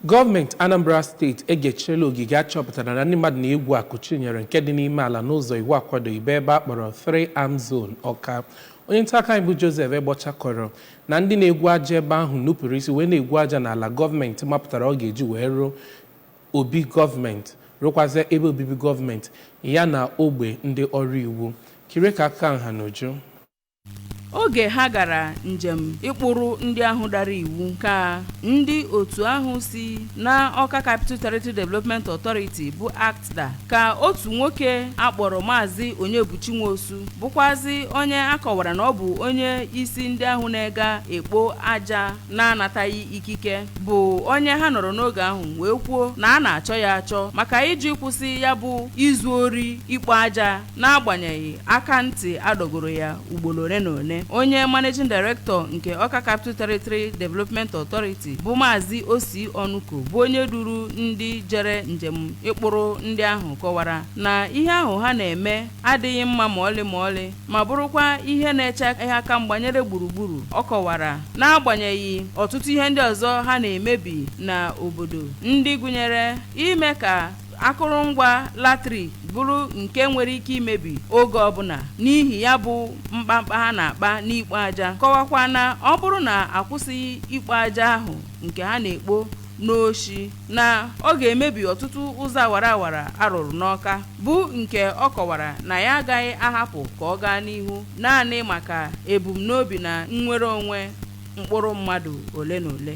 Gọọmenti Anambra steeti egechiela ogige a chọpụtara na ndị mmadụ na-egwu akụ chi nyere nke dị n'ime ala n'ụzọ iwu akwadoghị bụ ebe a kpọrọ Three Arm Zone Ọka. Onye nta akụkọ anyị bụ Joseph Egbocha kọrọ na ndị na-egwu aja ebe ahụ nupụrụ isi wee na-egwu aja n'ala gọọmenti mapụtara ọ ga-eji wee rụọ obi gọọmenti rụkwazịa ebe obibi gọọmenti ya na ogbe ndị ọrụ iwu. Kirie ka akụkọ nha n'uju. oge ha gara njem ịkpụrụ ndị ahụ dara iwu ka ndị otu ahụ si na Ọka Capital Territory Development Authority bụ ACTDA ka otu nwoke a kpọrọ Maazị Onyebuchi Nwosu bụkwazi onye a kọwara na ọ bụ onye isi ndị ahụ na-ega ekpo aja na-anataghị ikike bụ onye ha nọrọ n'oge ahụ wee kwuo na a na-achọ ya achọ maka ịjụ ịkwụsị ya bụ izu ori ikpo aja N'agbanyeghị aka ntị a dọgoro ya ugboro ole na ole, onye Managing Director nke Ọka Capital Territory Development Authority bụ Maazị Ossy Onuko bụ onye duru ndị jere njem ịkpụrụ ndị ahụ kọwara na ihe ahụ ha na-eme adịghị mma ma ọlị ma ọlị ma bụrụkwa ihe na-eche aka mgba nyere gburugburu. Ọ kọwara n'agbanyeghị ọtụtụ ihe ndị ọzọ ha na-emebi n'obodo ndị gụnyere ime ka akụrụngwa latrik bụrụ nke nwere ike imebi oge ọbụla n'ihi ya bụ mkpamkpa ha na-akpa n'ikpo aja kọwakwa na ọ bụrụ na a kwụsịghị ikpo aja ahụ nke ha na-ekpo n'oshi na ọ ga-emebi ọtụtụ ụzọ awara awara a rụrụ n'Ọka bụ nke ọ kọwara na ya agaghị ahapụ ka ọ gaa n'ihu naanị maka ebumnobi na nnwere onwe mkpụrụ mmadụ ole na ole